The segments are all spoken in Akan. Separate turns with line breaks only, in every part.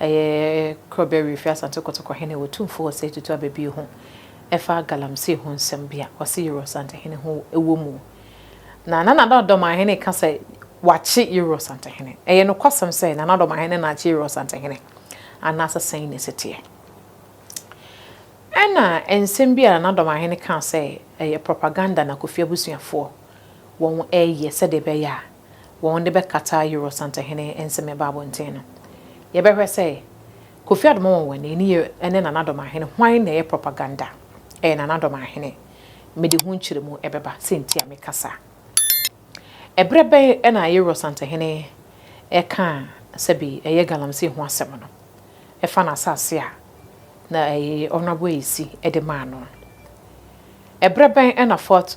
Ɛyɛ Korɔbea Wifi Asante Kotoko hene Otumfo Osei Tutu Ababie ho ɛfa Galamsey ho nsɛm bi a ɔse Yero Asantehene ho wɔ mu. Na Nana Addo Adomahene ka sɛ wakye Yero Asantehene. Ɛyɛ nokwasɛm sɛ Nana Addo Adomahene na akye Yero Asantehene anaasɛ sɛn na ɛsi teɛ? Ɛna nsɛm bi a Nana Addo Adomahene kaa sɛ ɛyɛ propaganda na Kofi abusuafoɔ wɔn ɛyɛ sɛdeɛ ɛbɛyɛ a wɔde bɛkata Euro Santahene nsɛmmɛbɔ abɔnten no. Yɛbɛhwɛ sɛ Kofi Adoma Wɔnwɛne ne yɛ ne Nana Domahene hwan na ɛyɛ propaganda? Ɛyɛ Nana Domahene. Mede ho nkyerɛmu bɛba sɛ nti a meka saa. Ɛberɛ bɛn na Euro Santahene kaa sɛbi ɛyɛ Galamsey ho asɛm no? Ɛfa n'asase a na ɛyɛ Honourable Ayisi de maa no no. Ɛberɛ bɛn na Fort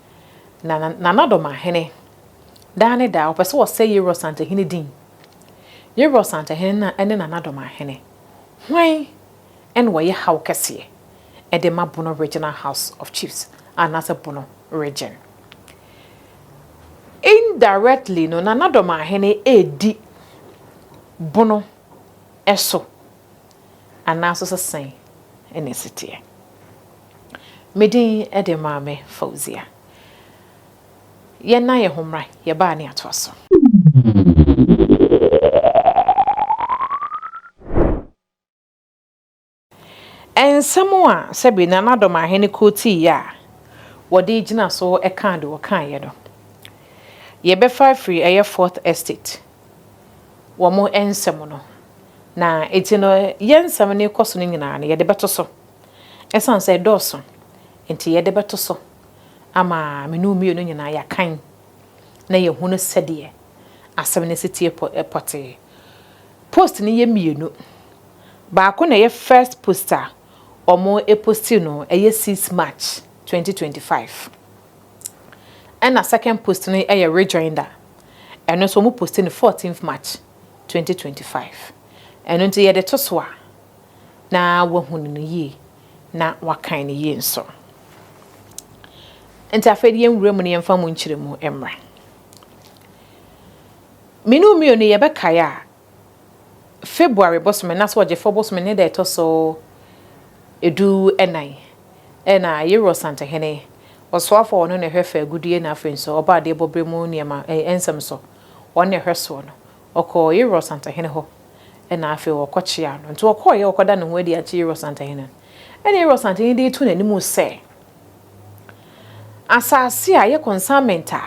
Na n'anadommahene, daa ne daa, ɔpɛ sɛ ɔsɛe Yeror santahene din. Yeror santahene no ne n'anadommahene, hwan na wɔyɛ haw kɛseɛ de ma Bono Regional House of Chiefs anaasɛ Bono Region? Indirectly no, n'anadommahene redi Bono so anaa nso sɛ sɛn na ɛsi teɛ? Me din de Maame Fauzia. Yɛnna yɛn ho mmra, yɛbaa ne atoa so. Nsɛm a sɛbe na na Dɔm Ahene kuo te yɛ a wɔde gyina so kaa deɛ wɔkaeɛ no, yɛbɛfa afiri ɛyɛ Fourth Estate wɔn nsɛm no, na enti no yɛn nsɛm no rekɔ so no nyinaa no yɛde bɛto so. Esiane sɛ ɛdɔɔso nti, yɛde bɛto so ama me ne wo mmienu nyinaa yɛakan na yɛahunu sɛdeɛ asɛm no si teɛ pɔtee. Post no yɛ mmienu. Baako na ɛyɛ first post a wɔposti no, ɛyɛ six March twenty twenty five. Ɛna second post no yɛ rejoinder. Ɛno nso wɔposti no fourteenth March twenty twenty five. Ɛno nti yɛde to so a, na wahunu no yie na wakan no yie nso. Nti afei de yɛnwura mu na yɛmfa mu nkyerɛmu mmra. Me ne wo mmienu yɛbɛkae a, February bosome anaasɛ ɔgyefoɔ bosome ne da ɛtɔ so edu ɛnan ɛna Yero Ɔsantehene ɔsoafoɔ ɔno na ɛhwɛ fɛ agudie na afei nso ɔbaa adeɛ bɔberɛ mu nneɛma nsɛm so ɔno na ɛhwɛ soɔ no Ɔkɔɔ Yeror santahene hɔ, ɛnna afei wɔkɔkyeaa no. Enti ɔkɔeɛ, ɔkɔda ne ho adi akyerɛ Yeror santahene no. Ɛnna Yeror santahene dii too n'anim sɛ, Asase a ɛyɛ consignment a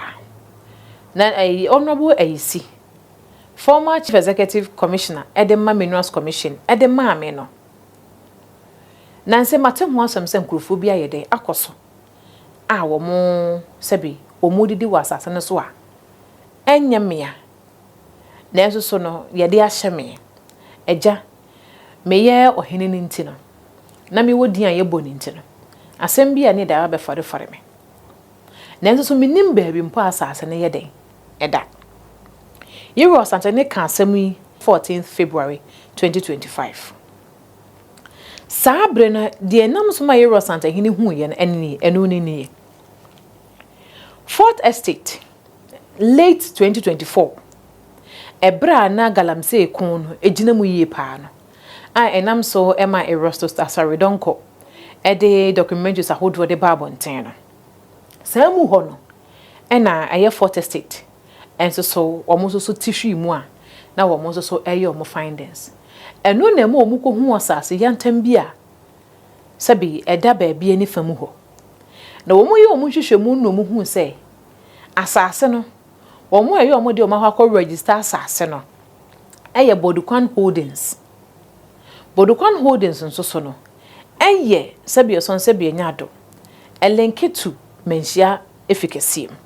na ɛyi Honourable Ayisi, former Chief Executive Commissioner, de ma Minerals Commission de maa me no, nansɛ mate ho asɛm sɛ nkurɔfoɔ bi ayɛ dɛn akɔ so a wɔn sɛbe wɔredidi wɔ asase no so a ɛnyɛ mea Nanso so no yɛde ahyɛ me? Agya, meyɛ ɔhene no nti no, na mewɔ din a yɛbɔ no nti no, asɛm bi a ne dɛ abɛfɔrefɔre me. Nanso so mennim baabi mpo a asase no yɛ dɛn da? Yero Asantehene kaa asɛm yi fourteenth February twenty twenty five. Saa bere no, deɛ ɛnam so ma Yero Asantehene huiɛ no, ɛno nie, ɛno ne nie. Fourth Estate. Late twenty twenty four, ɛberɛ a na Galamsey ko no gyina mu yie paa no, a ɛnam so maa Erastus Asare Donkor de documentaries ahodoɔ de baa abɔnten no. Saa mu hɔ no na ɛyɛ Fourth Estate nso so wɔn nso so ti hwii mu a na wɔn nso so reyɛ wɔn findings. Ɛno na ɛma wɔkɔhuu asase yantam bi a sɛbe ɛda baabi ani fa mu hɔ. Na wɔyɛɛ wɔn nhwehwɛmu no na wɔhuu sɛ, Asase no, wɔn a ɛyɛ wɔn dea wɔn akɔ akɔ register asase no yɛ Bodukwan Holdings. Bodukwan Holdings nso so no, ɛyɛ sɛbi ɛsɔn sɛbi ɛnyɛ ado, ɛlinke to Manhyia Efi kɛseɛ mu.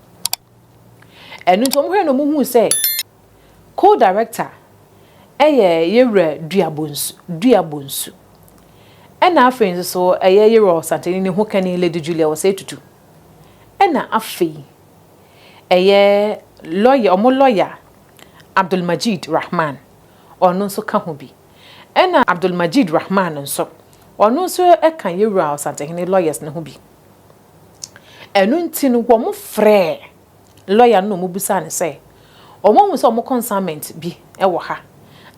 Ɛno nti wɔn hwɛ na wɔn hu sɛ co-director ɛyɛ Yewura Dua Bonsu, Dua Bonsu. Ɛna afei nso so ɛyɛ Yewura Ɔsantani ne Hokani Lady Julia Osei Tutu. Ɛna afei ɛyɛ lɔya ɔmo lɔya Abdulmajid Rahman ɔno nso ka ho bi. Ɛna Abdulmajid Rahman nso ɔno nso ɛka Yewura Ɔsantehene lɔyɛs no ho bi. Ɛno nti no wɔmo frɛɛ lɔya no na ɔmo bisaa no sɛ ɔmo ahu sɛ ɔmo kɔnsaamɛnt bi ɛwɔ ha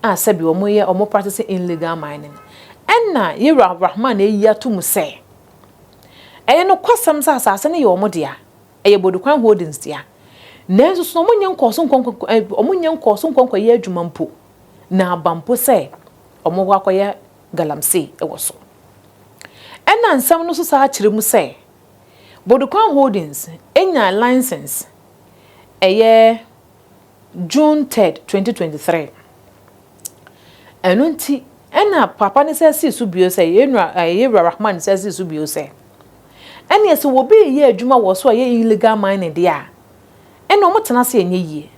a sɛbi ɔmo yɛ ɔmo praktise inligal mainin. Ɛna Yewura Rahman ayi ato mu sɛ. Ɛyɛ nokwasɛm sɛ asase no yɛ wɔn dea, ɛyɛ Bodukwan Holdings dea. Nanso so na wɔnyɛ nkɔɔ so nkɔ wɔnyɛ nkɔɔ so nkɔ nkɔyɛ adwuma mpo, na aba mpo sɛ wɔbɛkɔ akɔyɛ galamsey wɔ so? Ɛnna nsɛm no so san kyerɛ mu sɛ, Bodukwan Holdings nyaa license, ɛyɛ June third, twenty twenty three. Ɛno nti, ɛnna Paapa no san sii so bio sɛ, yɛn nua ɛɛ Yewura Rahman san sii so bio sɛ, Ɛnneɛ sɛ obi reyɛ adwuma wɔ so a ɛyɛ illegal mining deɛ a, ɛnneɛ wɔtena ase nyɛ yie.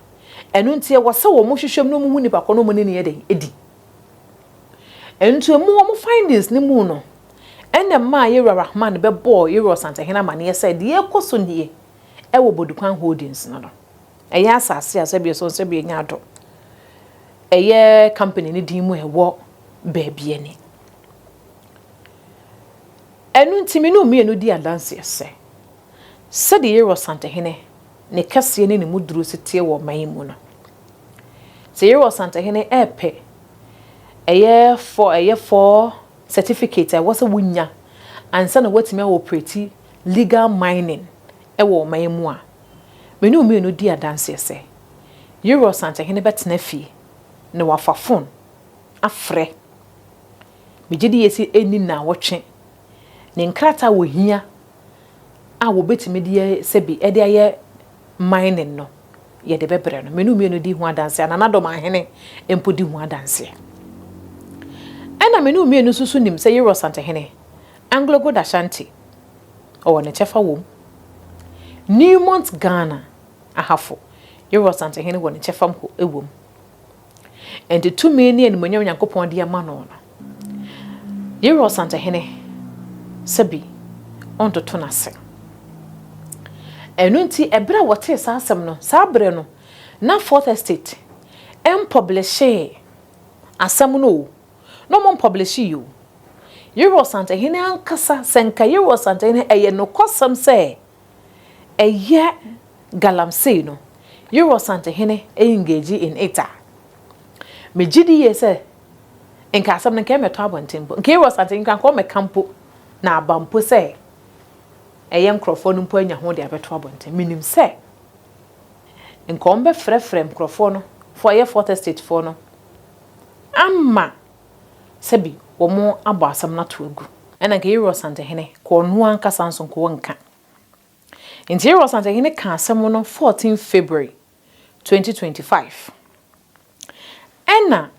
Ɛno nti, ɛwɔ sɛ wɔhwehwɛ mu na wɔhu nipa korɔ na wɔne no yɛ dɛn di. Nti emu wɔn findings no mu no, ɛnna ɛmaa Yewura Rahman bɛbɔɔ Yewura Ɔsantehene amaneɛ sɛ deɛ ɛrekɔ so nie wɔ Bodikwan Holdings no no, Ɛyɛ asase a sɛbi ɛsɔ sɛbi enya ado. Ɛyɛ company ne din mu ɛwɔ baabi ɛne. Ɛno nti me ne wɔn mmienu di adanseɛ sɛ, sɛdeɛ Yero Asantehene ne kɛseɛ ne ne mu duro si teɛ wɔ ɔman yi mu no, sɛ Yero Asantehene ɛɛpɛ ɛyɛ fɔ ɛyɛ fɔ certificate a ɛwɔ sɛ wo nya ansa na woatumi a operate legal mining ɛwɔ ɔman yi mu a, Me ne wo mmienu di adanseɛ sɛ Yere Ɔsankyehene bɛtena fie na wafa fon afrɛ. Megye di yɛ sɛ ɛnni nnawɔtwe ne nkrataa a wɔhia a wɔbɛtumi de ayɛ sɛbi de ayɛ mining no yɛde bɛbrɛ no. Me ne wo mmienu di ho adanseɛ a Nana Dɔm Ahene mpo di ho adanseɛ. Ɛna me ne wo mmienu nso so nim sɛ Yere Ɔsankyehene, Anglo Gold Ashanti, ɔwɔ ne kyɛfa wom. Newmont Ghana Ahafo Yehowa Ɔsantehene wɔ ne kyɛfa mpo wom. Enti tumi ne animuonyam Nyankopɔn de ama no no, Yehowa Ɔsantehene sɛ bi ɔntoto no ase. Ɛno nti, ɛberɛ a wɔtee saa asɛm no, saa berɛ no, na Fourth Estate mpɔblehyee asɛm no o, na ɔmo mpɔbleshi yi o. Yere Ɔsantehene ankasa, sɛ nka Yere Ɔsantehene, ɛyɛ nokwasɛm sɛ ɛyɛ Galamsey no, Yere Ɔsantehene engage in it a, me gye di yie sɛ nka asɛm no nka ɛmmɛtɔ abɔnten mpo. Nka Yere Ɔsantehene nka nka ɔmmɛka mpo, na aba mpo sɛ ɛyɛ nkorɔfoɔ no mpo anya ho de abɛto abɔnten. Me nim sɛ nka ɔmbɛfrɛfrɛ nkorɔfoɔ no, foɔ a ɛyɛ Fourth Estate foɔ no, amma sɛbi wɔabɔ asɛm no ato agu. Ɛnna anka Yerua Ɔsantehene kɔɔ ɔno ankasa nso nkɔɔ nka. Enti Yerua Ɔsantehene kaa asɛm no fourteen February twenty twenty five. Ɛnna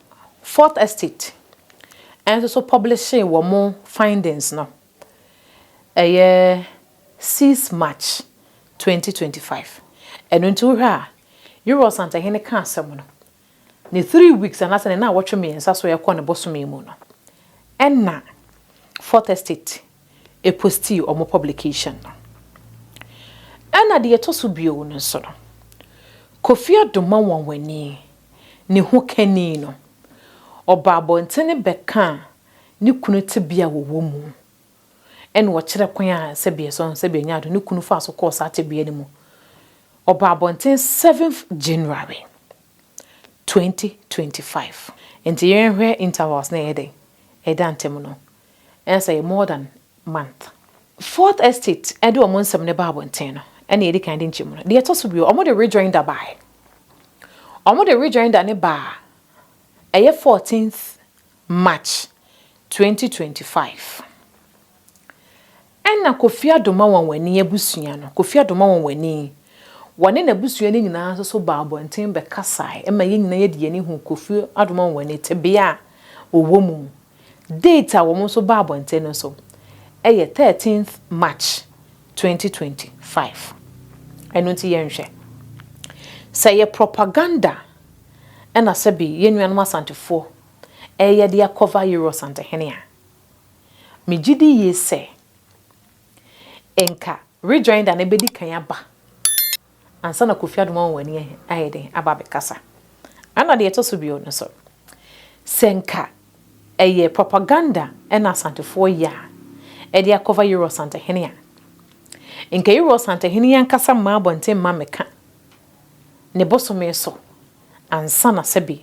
Fourth Estate nso so pɔblihyee wɔn findings no, ɛyɛ six March twenty twenty five. Ɛno nti wohwɛ a, Yerua Ɔsantehene kaa asɛm no, Ne three weeks anaasɛ ne naawɔtwe mmiɛnsa so rekɔ ne bosome mu no ɛna Fourth Estate postii wɔn publication no. Ɛna deɛ ɛtɔ so bio no nso no, Kofi Adomah Nwanwani, ne hokani no, ɔbaa abɔntene bɛkaa ne kunu tebea a wɔwɔ mu. ɛna ɔkyerɛ kwan a Sɛbiɛsɔ, Sɛbiɛ Nyaado, ne kunu faa so kɔɔ saa tebea no mu. Ɔbaa abɔnten seventh January, twenty twenty five. Nti yɛnhwɛ intervals na ɛyɛ dɛn ɛda ntɛm no, ɛna sɛ ɛyɛ more than month. Fourth Estate ɛde wɔn nsɛm no baa abɔnten no, ɛna yɛdi kan de nkyɛmu no. Deɛ ɛtɔ so bio, wɔde rejoinder baaɛ. Wɔde rejoinder no baa ɛyɛ fourteenth March twenty twenty five Ɛna Kofi Adomawɔnwani abusua no, Kofi Adomawɔnwani, wɔne n'abusua no nyinaa nso so baa abɔnten bɛkasae ma yɛn nyinaa yɛde yɛn ani huu Kofi Adomawɔnwani tebea a ɔwɔ mu. Date a wɔn nso baa abɔnten no nso yɛ thirteenth March twenty twenty five. Ɛno nti yɛnhwɛ sɛ ɛyɛ propaganda na sɛbe yɛn nuanom Asantefoɔ reyɛ de akɔfa Euro Asantehene a, megye di yie sɛ nka Rejoinder no bɛdi kan aba ansa na Kofi Adom ama wɔn ani ayɛ den aba abɛkasa. Ɛna deɛ ɛtɔ so bio no nso, sɛ nka ɛyɛ propaganda na Asantefoɔ yɛ a ɛde akɔfa Euro Asantehene a, nka Euro Asantehene yi ankasa mmaa abɔnten mma mmɛka ne bosome so ansa na sɛbe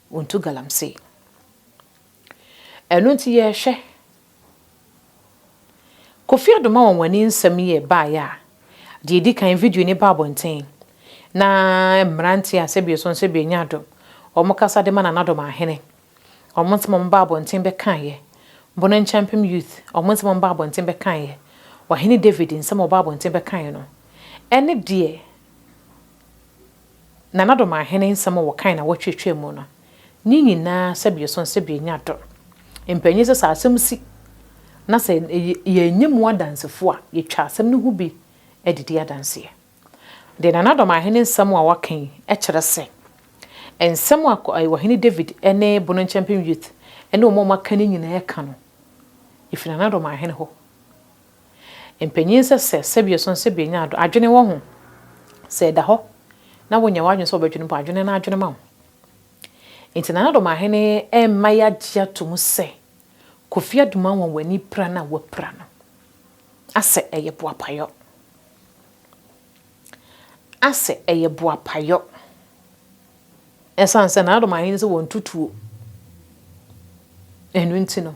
Wontu galamsey. Ɛno nti yɛrehwɛ. Kofi Addo ma wɔn wɔn ani nsɛm yi baeɛ a, deɛ ɛdi kan video no ba abɔnten na mmeranteɛ a sɛbi ɛsɔn sɛbi ɛnyɛ adom, wɔn kasa de ma Nana Adom Ahene. Wɔn nsɛm a wɔn baa abɔnten bɛkaeɛ. Bono Nkyɛmpem Youth, wɔn nsɛm a wɔn baa abɔnten bɛkaeɛ. Ɔhene David nsɛm a wɔbaa abɔnten bɛkaeɛ no, ɛne deɛ. Nana Domaahene nsɛm a wɔkae na wɔtweetwee mu no, ne nyinaa sɛbea sõ sɛ benya dɔ. Mpanyin sɛ sɛ asɛm si na sɛ yɛannye mu adansefo a, yetwa asɛm no ho bi de di adanse. Deɛ Nana Domaahene nsɛm a wɔaka yi kyerɛ sɛ, nsɛm a Ɔhene David ne Bono-Nkyɛmpem Youth ne wɔn a wɔaka no nyinaa ka no, efi Nana Domaahene hɔ. Mpanyin sɛ sɛ sɛbio so nsɛ benya ado adwene wɔ ho. Sɛ ɛda hɔ na wonya w'adwene sɛ wobɛdwene mpo a, dwene na adwene ma wo. Nti Nana Domahene ɛmma yɛagye ato mu sɛ Kofi Adum anwanwani pira no a wapira no asɛ ɛyɛ boapayɔ. Asɛ ɛyɛ boapayɔ. Ɛsan sɛ Nana Domahene sɛ wɔnto tuo. Ɛno nti no.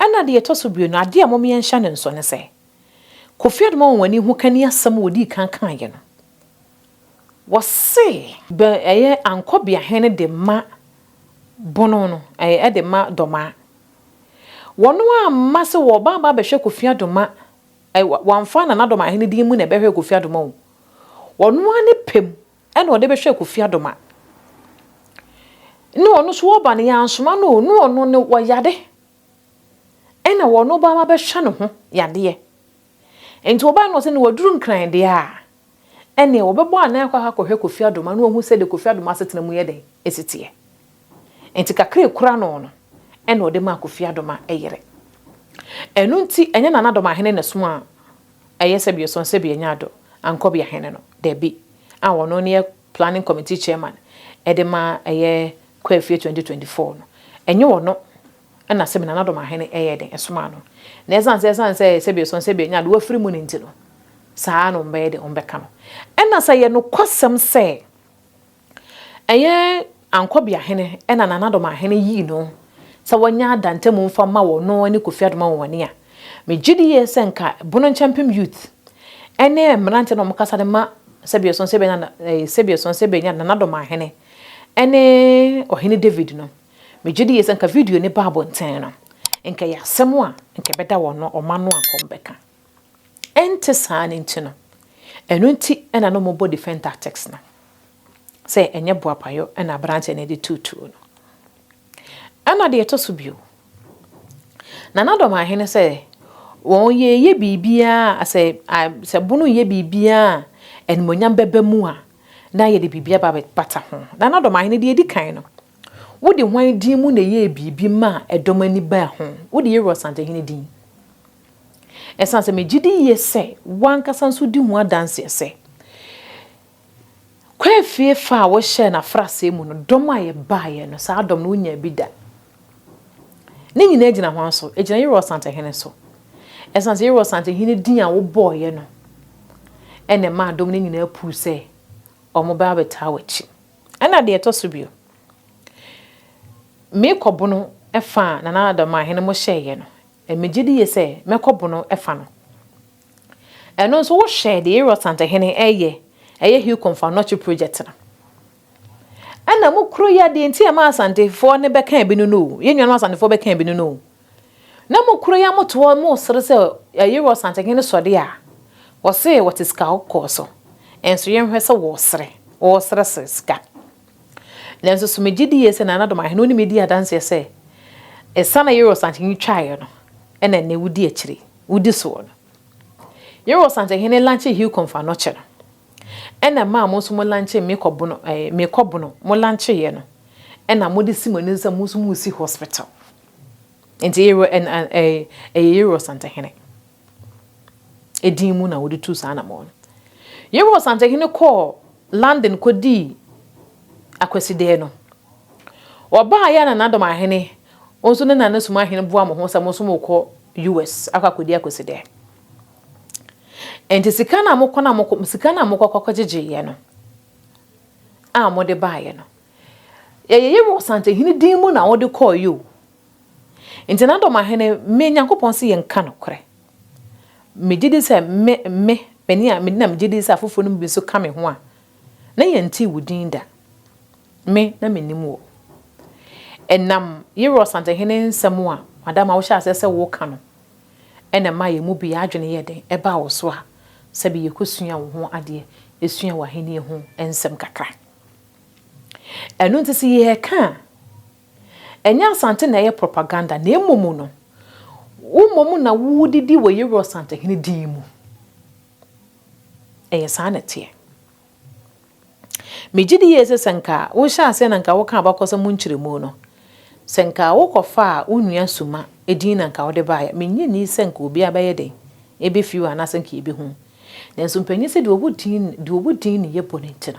Ɛna deɛ ɛtɔ so bio no, adeɛ a mom yɛnhyɛ no nso ne sɛ, Kofi Adom Anwanwani ho kani asɛm a wɔdii kan kaeɛ no, wɔse, bɛ ɛyɛ Ankɔbeahene de ma Bono no, ɛɛ de ma Dormaa. Wɔn amma sɛ wɔba aba abɛhwɛ Kofi Adoma, ɛ, wɔamfa Nana Dormaa Ahene din mu na ɛbɛhwɛɛ Kofi Adoma o. Wɔn ara ne pɛ mu ɛna ɔde bɛhwɛ Kofi Adoma ne ɔno nso ɔba no yɛansoma no o ne ɔno no wɔyare ɛna ɔno ba ma bɛhwɛ ne ho yadeɛ nti ɔbae no ɔsɛ ne waduru nkran deɛ a ɛne ɔbɛbɔ anan akɔ akɔhwɛ Kofi Adoma na wahu sɛdeɛ Kofi Adoma asetena mu yɛ dɛn ɛsi teɛ nti kakra ɛkura no no ɛna ɔde maa Kofi Adoma yere ɛno nti ɛnyɛ Nana Adoma Ahene na ɛsomaa Ɛyɛ sɛ biɔsɔn sɛ bi ɛnya do ankɔ bia hɛne no dabi a wɔno ne yɛ planning committee chairman ɛde ma ɛyɛ Kwafie 2024 no ɛnye wɔno ɛna sɛ bi Nana Dɔm Ahene ɛyɛ den ɛsomaa no na ɛsan sɛ ɛsan sɛ sɛ biɔsɔn sɛ bi ɛnya do wafiri mu no nti no saa na wɔn bɛyɛ den wɔn bɛka no ɛna sɛ ɛyɛ nokwasɛm sɛ Ɛnyɛ Ankɔbeahene na Nanadomahene yii no sɛ wɔnyɛ Ada ntamu mfa mma wɔ no ne Kofi Adom Awowani a? Megye di yie sɛ nka Bono-Nkyɛmpem Youth ne mmeranteɛ na wɔkasa de ma sɛdeɛ ɛsono sɛ yɛbɛnya na ɛɛ sɛdeɛ ɛsono sɛ yɛbɛnya Nanadomahene ne Ɔhene David no. Megye di yie sɛ nka video no ba abɔnten no, nka ɛyɛ asɛm a nka ɛbɛda wɔn ɔma no a nka wɔbɛka. Ɛnte saa no nti no, ɛno nti na na wɔbɔ defence tactics no sɛ ɛnyɛ boapayɔ na aberanteɛ no de tuu tuo no. Ɛna deɛ ɛtɔ so bio, Nana Dɔmahene sɛ wɔyɛyɛ biribiara sɛ sɛ bono yɛ biribiara a animuonyam bɛba mu a na yɛde biribi aba bɛbata ho. Nana Dɔmahene deɛ ɛdi kan no, wode hwan din mu na ɛyɛɛ biribi maa ɛdɔm ani baa ho? Wode Yeru Asantehene din. Esiane sɛ megye di yiye sɛ w'ankasa nso di ho adanse sɛ Kwaa fie fa a wohyɛɛ no afraseɛ mu no, dɔm a yɛbaeɛ no, saa dɔm no, wonyaa bi da. Ne nyinaa gyina hwan so? Egyina Yerɔs Santehene so. Esiane sɛ Yerɔs Santehene din a wobɔeɛ no na ɛmaa dɔm no nyinaa puu sɛ wɔbɛba abɛtaa w'akyi. Ɛnna deɛ ɛtɔ so bio, me kɔbono fa a Nana Adamahene mo hyɛeɛ no, Megye die sɛ mɛkɔ bono fa no. Ɛno nso wo hwɛ deɛ Yerɔ Santahene ɛyɛ ɛyɛ Hucom fa nɔkye project no. Ɛna mo kuro yi a deɛ nti a ɛma Asantefoɔ no bɛka bi no no o, yɛn nuanom Asantefoɔ bɛka bi no no o. Na mo kuro yi a mote hɔ mo sere sɛ Yerɔ Santahene sɔ deɛ a, wɔse wɔte sika kɔkɔɔ so. Nso yɛn hwɛ sɛ wɔsere, wɔsere sika. Nanso so megye di yie sɛ Nana Domahe na ɔne me di adanseɛ sɛ esiane a Yoweri Sankyehene twaeɛ no na nnɛ wodi akyire, wodi soɔ no? Yoweri Sankyehene lankyee Hilcom fa Anɔkye no, ɛna ɛmaa mo nso mo lankyee Mekɔ Bono, ɛɛ, Mekɔ Bono, mo lankyeeɛ no, ɛna mode si mo ani so sɛ mo nso moresi hospital. Enti Yoweri, ɛn, ɛn, ɛɛ, ɛyɛ Yoweri Sankyehene. din mu na wɔde tuu saa anammɔn no. Yehowa Ɔsantehene kɔɔ London kɔdii Akwasidee no. Ɔbaeɛ a na Nadom Ahene, wɔn nso ne Nanesum Ahene boa wɔn ho sɛ wɔn nso wɔrekɔ US akɔ akɔdi Akwasidee. Enti sika no a mokɔ no a mokɔ, sika no a mokɔ kɔkɔgyegyeeɛ no a mode baeɛ no, ɛyɛ Yehowa Ɔsantehene din mu na wode kɔeɛ o, Nti na Dɔmahene, me Nyankopɔn se yɛnka nokorɛ. Megye di sɛ me, me, m'ani a mede na megye di sɛ afoforɔ no mu bi nso ka me ho a, na yɛntee wo din da. Me, na mennim wo. Ɛnam Yerɔ Ɔsantehene nsɛm a Madam a wohyɛɛ aseɛ sɛ woreka no na ɛmaa yɛn mu biara adwene yɛɛ den baa wo so a sɛbe yɛkɔsuaa wo ho adeɛ, suaa w'ahennie ho nsɛm kakra. Ɛno nti sɛ yɛreka a, Ɛnyɛ Asante na ɛyɛ propaganda na mmom no, wo mmom na wodidi wɔ Yeru Asantehene din mu. Ɛyɛ saa na ɛteɛ. Megye di yie sɛ sɛ nka wohyɛ aseɛ na nka woka abakɔsɛm ho nkyerɛmu no, sɛ nka wokɔfaa wo nua Suma din na nka wode baeɛ a, mennye nni sɛ nka obiara bɛyɛ dɛn? Ɛbɛfiri hɔ anaasɛ nka yɛbɛhunu. Nanso mpanyini sɛ deɛ ɔwɔ din deɛ ɔwɔ din no yɛ bɔne nti no,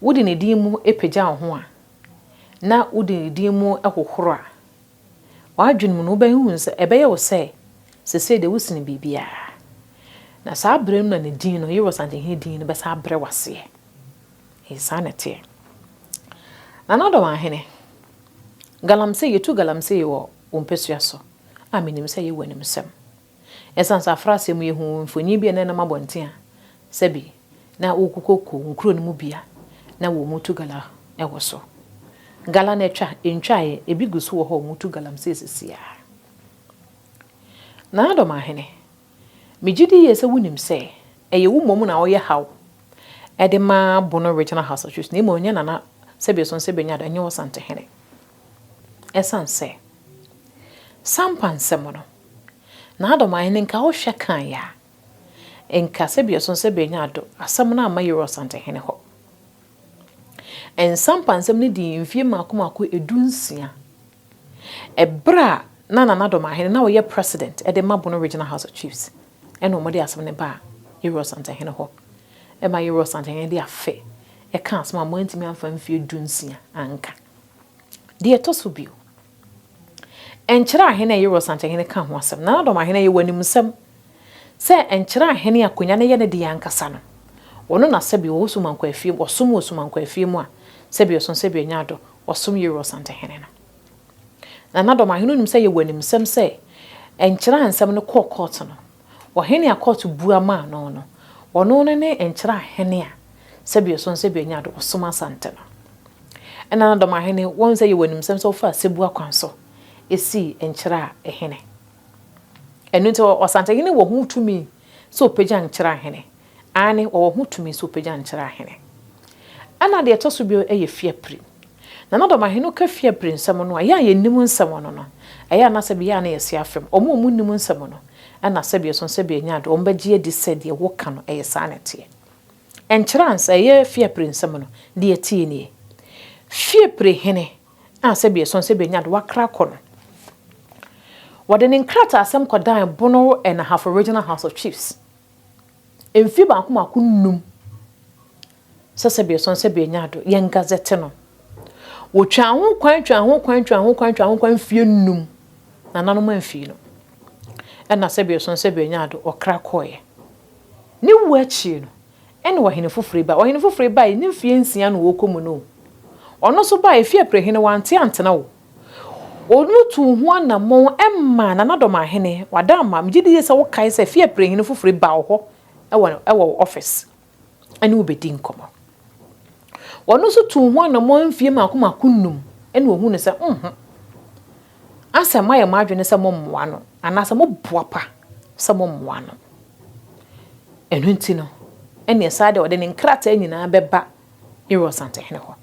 Wode ne din mu pagya wo ho a, na wode ne din mu hohoro a, w'adwene mu no wobɛhuhu sɛ ɛbɛyɛ wo sɛ seesei deɛ wosene biribiara. Na saa berɛ no na ne din no, Yewɔ Santehene din no bɛsan abrɛ wo aseɛ. Ɛyɛ saa na ɛteɛ. Nana Ɔdɔmahene, galamsey, yɛtu galamsey wɔ wo mpasua so a menim sɛ yɛwɔ animsɛm. Esiane sɛ afra asɛm yi ho mfoni bi a na ɛnam abɔnten a sɛbe na wokokoko nkurow no mu bi a na wɔretu gala wɔ so. Gala no atwa, entwae, ebi gu so wɔ hɔ a wɔtu galamsey sisi ara. Nana Domahene, migye di yiye sɛ wunim sɛ ɛyɛ wo mmom na woyɛ haw de ma Bono Regional House of Chiefs na mmom ɛnyɛ Nana Sɛbe Sonse Banyada, ɛnyɛ Ɔsantehene. Esiane sɛ Sampa nsɛm no, N'adɔm ahen nka wo hwɛ kan yɛ a, nka sɛ biason sɛ benya ado asɛm no amma Yerɔ Santehene hɔ. Nsa mpansɛm no dii mfie mmaako mmaako edu nsia. Ɛberɛ a na Nana Dɔm Ahene na ɔyɛ President de ma Bono Regional House of Chiefs ɛna wɔn de asɛm no baa Yerɔ Santehene hɔ ɛma Yerɔ Santehene de afe ɛka asɛm a wɔantumi amfa mfie du nsia anka. Deɛ ɛtɔ so bio. Nkyere ahene a ɛyɛ Rosankyɛhene ka ho asɛm. Nanadɔm ahene a yɛwɔ animsɛm sɛ nkyere ahene akonya no yɛ ne deɛ ankasa no, wɔno na sɛbi wɔwɔ Sumankwafie mu, ɔsom wɔ Sumankwafie mu a, sɛbi ɔso sɛbi ɔnya ado, ɔsom yɛ Rosankyɛhene no. Nanadɔm ahene wonim sɛ yɛwɔ animsɛm sɛ nkyere ahensɛm no kɔɔ kɔɔto no, Ɔhene a kɔɔto bua maa no no, ɔno no ne nkyerɛ ahene a sɛbio so no sɛbio nya do ɔsom Asante no. Nna no dɛm ahene wɔn sɛ yɛwɔ animsɛm sɛ wɔfaa sɛbua kwan so sii nkyerɛ a hene. Ɛno nti Ɔsantehene wɔ ho tumi sɛ ɔpagya nkyerɛ ahene Aane, wɔwɔ ho tumi sɛ wɔpagya nkyerɛ ahene. Ɛna deɛ ɛtɔ so bio yɛ fiapiri. Na na dɔmahene no ka fiapiri nsɛm no a, yɛn a yɛnim nsɛm no no, ɛyɛ a na sɛbe yɛn a na yɛse afem. Wɔn a wɔnnim nsɛm no, ɛna sɛbe ɛsono sɛ bɛanya ade, wɔbɛgye adi sɛ deɛ woka no, ɛyɛ saa na ɛteɛ. Ɛnkyerɛ ansa, ɛyɛ fiapiri nsɛm no, deɛ ɛteɛ nie, Fiapiri hene a sɛbe ɛsono sɛ bɛanya ade, wɔakra akɔ no. Wɔde ne nkrataasɛm kɔdan Bono Ahafo Regional House of Chiefs Mfe baako mako nnum sɛsɛbiɛsɔn sɛ beenya do, yɛn gazɛtse no. Wotwaa ho kwan, twaa ho kwan, twaa ho kwan, twaa ho kwan mfie nnum. Nananom amfii no. Nna sɛbiɛsɔn sɛ beenya do, ɔkra kɔɔɛ. Ne wu ekyir no, nna ɔhen fofor ba. Ɔhen fofor bae, ne mfie nsia na ɔrekɔ mu no o. Ɔno so bae, mfe aprehene, ɔanntse anntena o. Ɔno tuu ho anammɔn maa Nana Dɔmahene, Wadaama. Megye di sɛ wokae sɛ Fie Aperehene foforo yi baa wo hɔ wɔ wɔ wo office ne wo bɛdii nkɔmmɔ. Ɔno nso tuu ho anammɔn mfeɛ mmaako mmaako nnum na ɔhuu no sɛ, Mho, Anselm ayɛ mo adwene sɛ mommoa no anaasɛ moboapa sɛ mommoa no. Ɛno nti no, ɛnneɛ saa deɛ ɔde ne nkrataa nyinaa bɛba Yerua Santehene hɔ.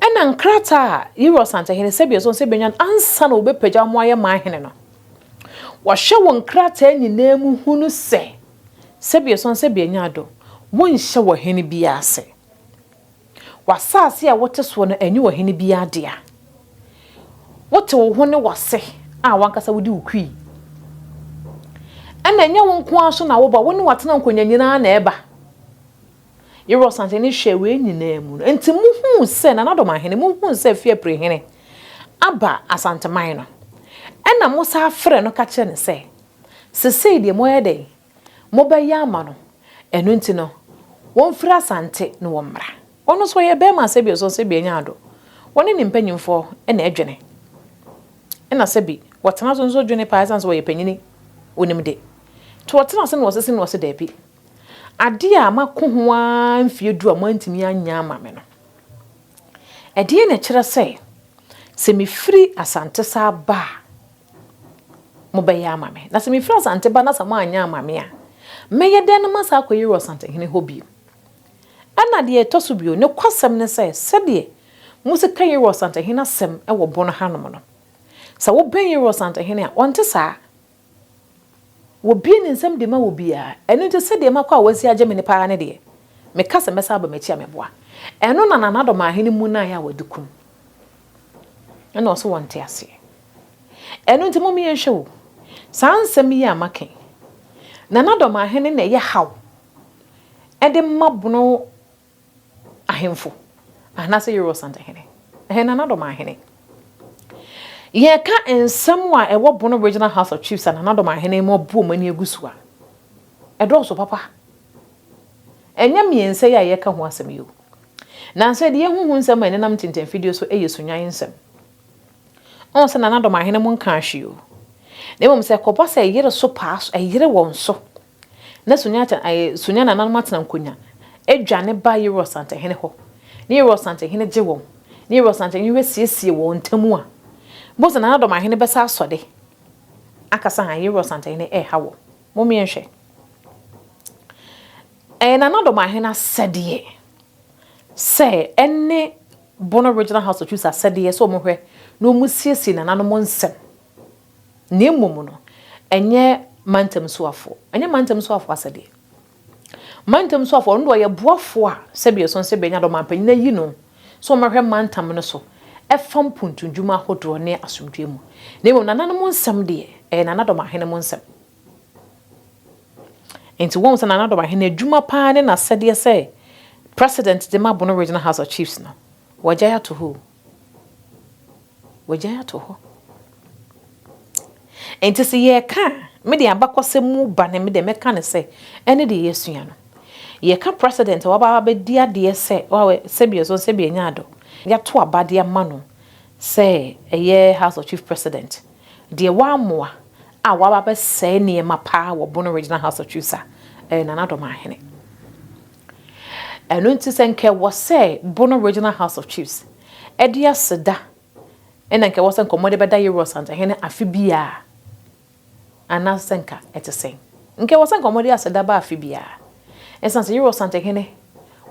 Ɛnna nkrataa a Yerua Santehene sɛdeɛ ɛsɔ sɛ ɛbɛnya no ansa na wɔbɛpagya wɔn ayɛ man hene no, wɔhwɛ wɔ nkrataa nyinaa mu hunu sɛ sɛdeɛ ɛsɔ sɛ bɛnya ado, wonhyɛ wɔ hene biara ase. W'asase a wote soɔ no, ɛnyɛ ɔhene biara dea. Wote wo ho ne w'ase a w'ankasa wode wo kui. Ɛnna ɛnyɛ wo nko ara so na woba, wo ne w'atenankonnwa nyinaa na ɛba. Yerɔ san sɛ ne hwɛɛ wei nyinaa mu no, nti mohuu sɛ, Nananom ahene, mohuu sɛ Fiapre hene aba Asanteman no, ɛna mo san frɛ no ka kyerɛ no sɛ, Sesei deɛ moɛyɛ dɛn? Mobɛyɛ ama no? Ɛno nti no, wɔmfiri Asante na wɔmmra. Ɔno nso ɔyɛ bɛɛma sɛbi ɔsɔ sɛbi anya ado. Wɔne ne mpanyimfoɔ na ɛdwene. Ɛna sɛbi wɔtena so nso dwene paa ɛsiane sɛ ɔyɛ panyini, onim de. Nti wɔtena ase na wɔsese na ɔse daabi. Adeɛ a mako ho ara mfeɛ du a moantumi anyɛ ama me no, ɛdeɛn na ɛkyerɛ sɛ, sɛ mefiri Asante saa ba a, mobɛyɛ ama me? Na sɛ mefiri Asante ba na sɛ moanyɛ ama me a, mɛyɛ dɛn na masan akɔ Yerua Asantehene hɔ bio? Ɛnna deɛ ɛtɔ so bio, nokwasɛm ne sɛ, sɛdeɛ Mose ka Yerua Asantehene asɛm wɔ bon hanom no, sɛ wobɛn Yerua Asantehene a, ɔnte saa. Wɔbue ne nsam de ma obiara. Ɛno nti, sɛdeɛ makɔ a wɔasi agye me no paa ne deɛ, meka sɛ mɛsan aba m'akyi a mɛboa. Ɛno na Nana Adomaahene mmu no ayɛ a wɔde kum no. Ɛna ɔse wɔnte aseɛ. Ɛno nti mom yɛnhwɛ o, saa nsɛm yi a maka yi, Nana Adomaahene na ɛyɛ haw de ma bono Ahemfo, anaasɛ Yerobal Santahene, ɛyɛ Nanadɔm Ahene. Yɛka nsɛm a ɛwɔ Bono Regional House of Chiefs a Nanadɔm Ahene mu abu wɔn ani agu so a, ɛdɔɔso papa. Ɛnyɛ mmiɛnsa yi a yɛreka ho asɛm yi o. Nanso yɛde yɛn ho hu nsɛm a ɛnenam ntintɛmfidie so yɛ Sunyan nsɛm. Ɔn sɛ Nanadɔm Ahene mu nkaa hwee o. Na mmom sɛ ɛkɔba sɛ ɛyere so paa so, ɛyere wɔn so Na Sonya nananom atena Nkonya, adwane ba Yerɔs Antehene hɔ, ne Yerɔs Antehene gye wɔn, ne Yerɔs Antehene bɛsiesie wɔn ntam a, bohu sɛ nanadɔmahene bɛsa asɔ de akasa han Yerɔs Antehene reha wɔn. Mommie nhwɛ. Ɛyɛ nanadɔmahene asɛdeɛ sɛ ɛne Bono Regional House of Chiefs asɛdeɛ sɛ wɔhwɛ na wɔsiesie nananom nsam. Na mmom no, ɛnyɛ mantam soafo, ɛnyɛ mantam soafo asɛdeɛ. Mantam soafo, ɔno deɛ ɔyɛ boafo a sɛdeɛ ɛsɔ no sɛ bɛnya dɛ ɔmanpanyin ayi no sɛ ɔmmɛhwɛ mantam no so ɛfa mpuntumdwuma ahodoɔ ne asomdwoeɛ mu. Na mmom nananom nsɛm deɛ, ɛyɛ nanadɔm ahene mo nsɛm. Nti woahu sɛ nanadɔm ahene adwuma paa ne n'asɛdeɛ sɛ President de ma Bono Regional House of Chiefs no, wɔagyae ato hɔ o. Wagyae ato hɔ. Nti sɛ yɛreka a, me deɛ abakɔsɛm mu ba no me deɛ mɛka no sɛ ɛne deɛ yɛasua no. Yɛka president a waba abɛdi adeɛ sɛ wawɛ sɛbi ɔso sɛbi anya adɔ. Yɛato aba de ama no sɛ ɛyɛ House of Chief President. Deɛ wammoa a waba abɛsɛe nneɛma paa wɔ Bono Regional House of Chiefs a ɛyɛ Nana Dɔm Ahene. Ɛno nti sɛ nka ɛwɔ sɛ Bono Regional House of Chiefs de aseda na nka ɛwɔ sɛ nka wɔde bɛda Yeru Ɔsantahene afe biara anaasɛ sɛ nka ɛte sɛn? Nka ɛwɔ sɛ nka wɔde aseda ba afe biara ɛsiane sɛ Yeru Ɔsantahene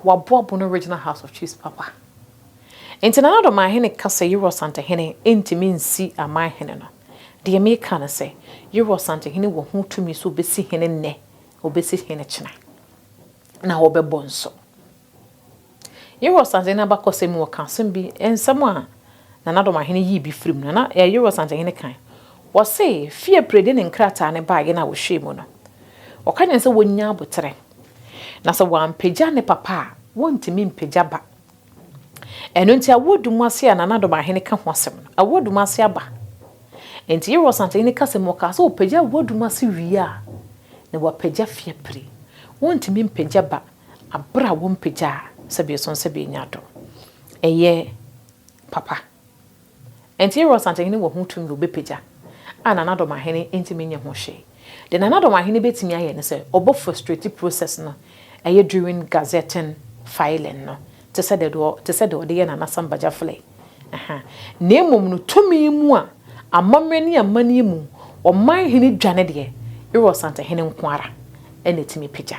waboa Bono Regional House of Chiefs papa nti. Nana Addo Manhene ka sɛ Yeru Ɔsantahene ntumi nsi Amanhene no. Deɛ meka ne sɛ Yeru Ɔsantahene wɔ ho tumi sɛ ɔbɛsi hene nnɛ Wɔbɛsi hene kyena, na wɔbɛbɔ nso. Yerosanten abakɔsɛm mu wɔka asɛm bi, nsɛm a Nana Dɔmahene yii bi firii mu, Nana ɛɛ Yerosantenhene kan. Wɔse fie pire de ne nkrataa no baeɛ no a wɔhwɛɛ mu no, wɔka kyerɛ no sɛ wɔnnya aboterɛ, na sɛ wampagya ne papa a, wɔntumi mpagya ba. Ɛno nti awoɔ du mu ase a Nana Ado Mahene ka ho asɛm no, awoɔ du mu ase aba. Nti Yerɛ Ɔsante Hene kasa mu ɔkaa sɛ ɔpagya awoɔ du mu ase wie a, na wapagya Fiapire. Wɔntumi mpagya ba aberɛ a wɔmpagyaa sɛbe ɛsɔn sɛbe ɛnya do. Ɛyɛ papa. Enti Aaron Sankyehene wɔ ho tumi a ɔbɛpagya a Nanadomahene ntumi nyɛ ho hwee. Deɛ Nanadomahene bɛtumi ayɛ ne sɛ ɔbɔ frustrate process no ɛyɛ during gazetting, filing no te sɛ deɛ te sɛ deɛ ɔde yɛ Nana Sam Bagyafulay ɛha. Na mmom no tumi mu a amammerɛ ne amanneɛ mu ɔman hene dwa no deɛ Aaron Sankyehene nko ara na ɛtumi pagya.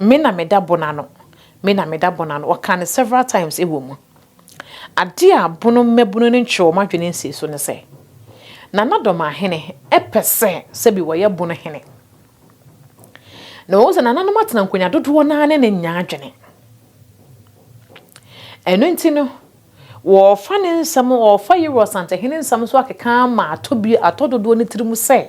Me na meda bono ano, me na meda bono ano, ɔkaa no several times wɔ mu. Adeɛ a bono mmabunu no ntwee wɔn adwene nsii so ne sɛ, Nana Dɔmahene pɛ sɛ sɛbi wɔyɛ bono hene. Na wɔhu sɛ nananom atena nkonya dodoɔ no ara ne no nnya adwene. Ɛno nti no, wɔrefa ne nsɛm, wɔrefa Yero Asantehene nsɛm so akeka ama atɔ bi, atɔ dodoɔ no tirim sɛ,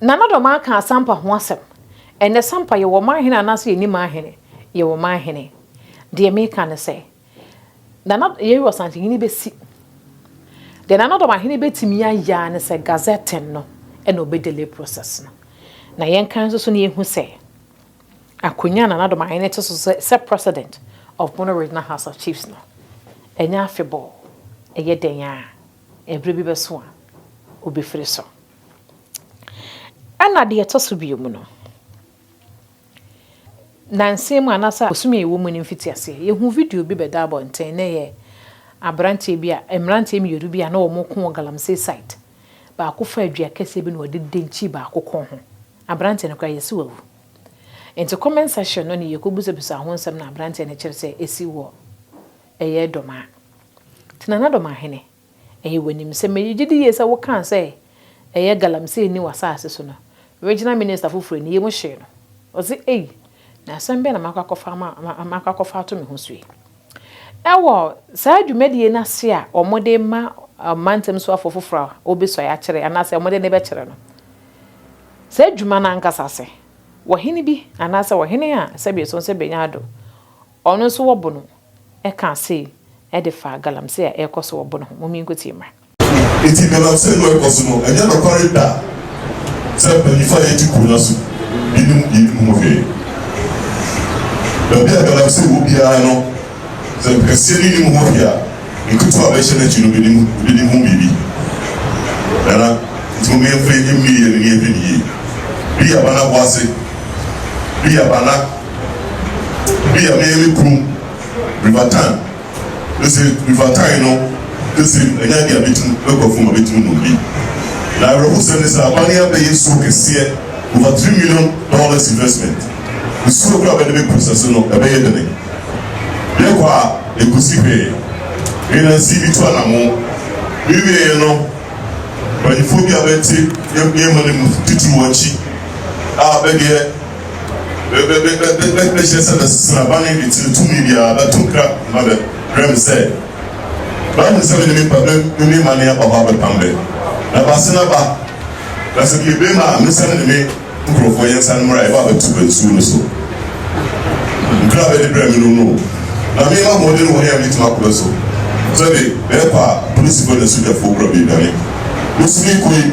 Nana dɔ ɔman ka asampa ho asɛm ɛnɛ sampa yɛwɔ ɔman hene anaasɛ yɛnni man hene yɛwɔ ɔman hene deɛ meka ne sɛ nana yɛyi wɔ santi hene bɛsi deɛ nana dɔ ɔman hene bɛtumi ayɛ ne sɛ gazette no ɛna ɔbɛ delay process no na yɛn kan nso so ne yɛhu sɛ akonya nana dɔ ɔman hene te so sɛ sɛ president of Bono regional house of chiefs no ɛnyɛ afebɔɔ ɛyɛ dɛn a Bere bi bɛso a, obefiri so. Ɛnna deɛ ɛtɔ so bio mu no, nnansa mu anaasɛ abosome a ɛwɔ mu no mfitiaseɛ, yɛhuu video bi bɛda abɔnten, na ɛyɛ aberanteɛ bi a, mmeranteɛ mmienu bi a na wɔko wɔ Galamsey site. Baako faa dua kɛseɛ bi na ɔde denkyii baako kɔn ho. Aberanteɛ no koraa, yɛse wawu. Enti comment section no ne yɛkɔbisabisaa ho nsɛm na aberanteɛ no kyerɛ sɛ ɛsi wɔ. Ɛyɛ Domaa. Te Nana Domaa hene, ɛyɛ w'animsɛm. Me gye di yie sɛ wo kaa sɛ ɛyɛ galamsey nni w'asaase so no, Regional Minister foforɔ yi ne yam hyee no. Ɔse ei, na asɛm bɛn na makɔ akɔfa ama, makɔ akɔfa ato me ho so yi? Ɛwɔ saa dwumadie no ase a wɔde rema ɔmantam soafoɔ foforɔ a ɔbɛsuae akyerɛ anaa sɛ wɔde ne bɛkyerɛ no, saa adwuma no ankasa ase, wɔ hene bi anaa sɛ ɔhene a sɛbi ɛsɔn sɛ bɛnya ado, Ɔno nso wɔbo no ɛkaa sei ɛde faa galamsey a ɛrekɔ so wɔ bo no ho, momie nkotie mmra. Enti galamsey
no ɛrekɔ so no, ɛnyɛ nokware da sɛ mpanyinfo a yɛte kuro no aso binom yɛnim ho hwee. Baabi a galamsey wɔ biara no, sɛ nkɛseɛ no nnim ho hwee a, nketewa a bɛhyɛ no akyi no bɛnim bɛnim ho biribi. Nana, enti mom yɛmfa yɛn ani mmie yɛn ani nhwɛ no yie. Bia bana boase, bia bana. Ebi a meyɛ me kurom River Tyne mese River Tyne no bese mu ɛnyɛ adeɛ a mɛtumi mɛkɔ afuom a mɛtumi nom bi. Na awerɛhosɛm ne sɛ abane abɛyɛ nsuo kɛseɛ over three million dollars investment. Nsuo koraa a bɛde bɛ process no ɛbɛyɛ dene. Yɛkɔ a ɛkɔsi hwee. Me na nsi bi tu anamo. Me wieɛ no mpanyinfoɔ bi a bɛte yɛ nneɛma no mu titiriw akyi a bɛdeɛ Bɛhyɛ sɛ bɛsesera bane de tiri tumi biara bɛto nkra ma bɛ werɛ me sɛ bɛahunu sɛ me ne me pa bɛ me me mane aba hɔ abɛpam bɛ na bɛase no aba na sɛ bie bem a mesane ne me nkurɔfoɔ yɛnsane mmra yɛba abɛto bɛ nsuo no so nkra a bɛde brɛ me no no na me ma hoɔden wɔ he a metumi akɔ bɛ so sɛ be bɛɛkɔ a polisi kɔ na sogyafoɔ kura bie dwane me sumi kɔ yi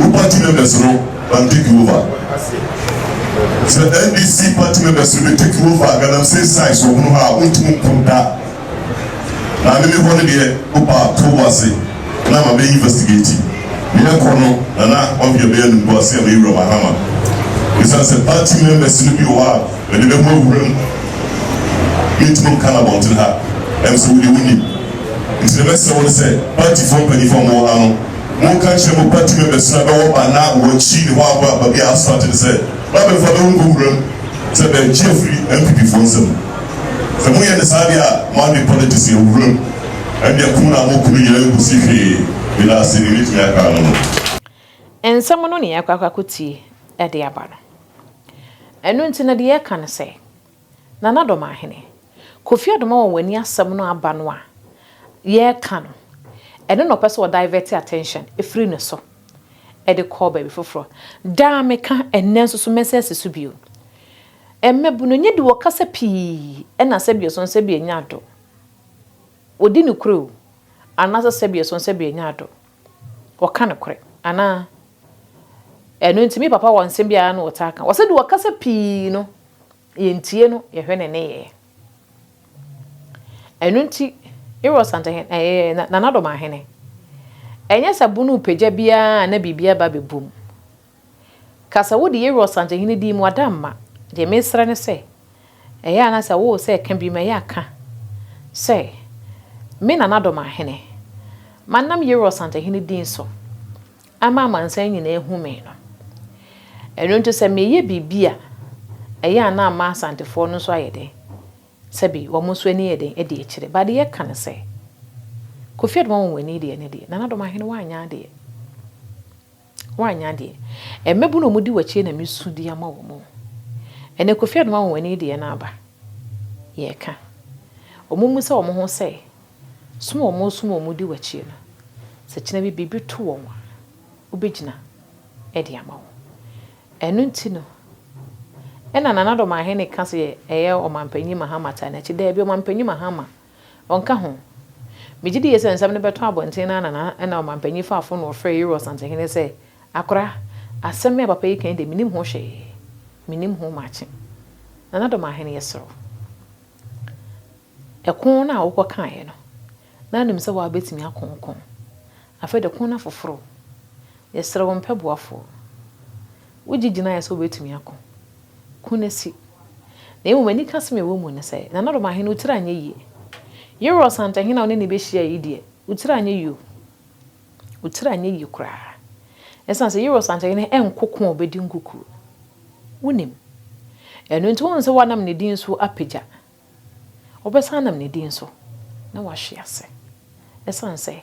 Wo party members no ban take over. Sɛ NDC party members no bɛ take over a galamsey size wɔ hono hɔ a wontum nko da. Maame me hɔ no deɛ wo ba to wo ase na ama bɛ investigate. Nea ɛkɔ no Nana ɔnhwɛ bɛyɛ no mpo a se ameyɛ wura Mahama. Esiane sɛ party members no bi wɔ hɔ a bɛde bɛ ho awura mu mentum nka no abɔnten ha. Ɛm sɛ wo deɛ wonim. Nti deɛ mɛsrɛ wo ne sɛ party foɔ mpanyinfoɔ a mo wɔ ha no Monka nkyerɛ mo ba Timea bɛsena bɛwɔ ba na wɔakyi ne hɔ abɔ aba bi a aso ate no sɛ ba bɛfa bɛwɔ nkɔ wuram sɛ bɛregye afiri NPP foɔ nsam. Sɛ moyɛ no saa deɛ a moade politics yɛ wuram ɛndeɛ ko na mo kunu yɛ ɛnkɔsi hwee. Medaase deɛ mɛtumi aka ano no. Nsɛm
no na yɛakɔ akɔtie de aba no. Ɛno nti no deɛ yɛka ne sɛ. Nana Domahene, Kofi Adoma wɔ w'ani asɛm no aba no a yɛreka no, ɛno na ɔpɛ sɛ ɔ divert attention firi ne so de kɔ baabi foforɔ. Daa meka, ɛnnɛ nso so mɛsan asi so bio. Mmabunu nyɛ de wɔkasa pii na sɛbi ɔsɔn sɛbi ɛnyɛ adɔ. Ɔdi nokorɛ o, anaasɛ sɛbi ɔsɔn sɛbi ɛnyɛ adɔ. Ɔka nokorɛ anaa? Ɛno nti me papa wɔ nsɛm bi a na ɔtaa ka. Ɔsɛ deɛ ɔkasa pii no, yɛntie no, yɛhwɛ ne nneyɛɛ. Ɛno nti Eros Antahene, ɛɛ Nana Domaahene, ɛnyɛ sɛ bono repagya biara a na biribi aba abɛbom. Ka sɛ wode Yehowa Ɔsantehene din mu ada mma. Deɛ meresrɛ ne sɛ, ɛyɛ a na sɛ wowɔ sɛ ka bi ma ɛyɛ a ka sɛ, Me Nana Dɔ M'ahene, manam Yehowa Ɔsantehene din so ama amansan nyinaa ahu me no. Ɛno nti sɛ mereyɛ biribi a, ɛyɛ a na ama Asantefoɔ no nso ayɛ den sɛ bi wɔn nso ani yɛ den adi akyire. Ba deɛ ɛka ne sɛ, Kofi Adomah Wonwani deɛ ne deɛ, Nana Dɔ M'ahene woanyɛ adeɛ. Woannya deɛ. Mmabunu a wɔdi w'akyire na mesu de ama wɔn o. Ɛnɛ Kofi Anoma Anwanwani deɛ no aba. Yɛreka. Wɔmmisa wɔn ho sɛ, som a wɔresom a wɔdi w'akyire no, sɛ kyena bi biribi to wɔn a, wobɛgyina de ama wɔn? Ɛno nti no, ɛna Nana Dɔm Ahene ka sɛ ɛyɛ Ɔmanpanyin Mahama Tanachi. Daabi, Ɔmanpanyin Mahama. Ɔnka ho. Megye die sɛ nsɛm no bɛtɔ abɔnten no ara na na ɔmampanyin faa fon na ɔfrɛɛ Euro Ɔsansehene sɛ, Akora, asɛm me a papa yi kae deɛ mennim ho hwee. Mennim ho makye. Nana Domahene yɛsrɛ wo. Ɛko no a wokɔ kaeɛ no, na nim sɛ woabɛtumi ako nko. Afei de ko no afoforo. Yɛsrɛ wo mpɛ boafoɔ. Wogye gyinaeɛ sɛ wobɛtumi ako. Ko no asi. Na mmom anikasɛm a ɛwɔ mu ne sɛ, Nana Doma he, wo tiri anyɛ yie. Yerɔ Ɔsantahene a wo ne no bɛhyiaeɛ yi deɛ, wo tiri anyɛ yie o. Wo tiri anyɛ yie koraa. Esiane sɛ Yerɔ Ɔsantahene nko ko a ɔbɛdi nkukuo. Wonim. Ɛno nti wohu sɛ woanam ne din so apagya. Wobɛsan anam ne din so, na woahwe ase. Esiane sɛ.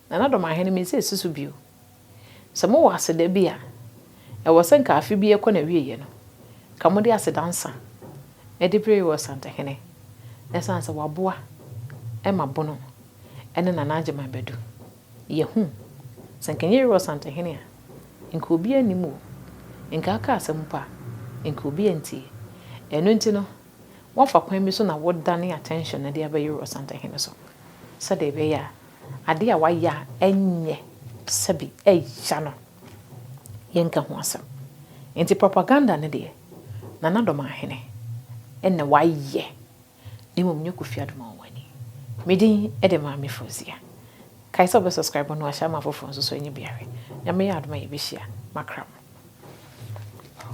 Nanadɔmahene, mese si so bio. Sɛ mowɔ aseda bi a ɛwɔ sɛ nka afe biara kɔ n'awieɛ no, nka mode aseda nsa de brɛ Yoweri Santahene ɛsiane sɛ waboa ma Bono ne Nana Agyeman bɛadu. Yɛahu. Sɛ nka ɛnyɛ Yoweri Santahene a, nka obiara nnim o. Nka aka asɛm mpo a, nka obiara ntie. Ɛno nti no, woafa kwan bi so na wodane attention no de aba Yoweri Santahene so sɛdeɛ ɛbɛyɛ a, Ade a wayɛ a ɛnyɛ sɛ bi ɛya no, yɛnka ho asɛm. Nti propaganda no deɛ, Nana Dɔm Ahene na wayɛ, na mmom nyɛ Kofi Adom Awowani. Me din de Maame Fauzia. Kae sɛ wobɛ subscribe na wahyɛ ama afoforɔ nso so anya bi ahwɛ. Nyame yɛ adom a yɛbɛhyia. Makra mo.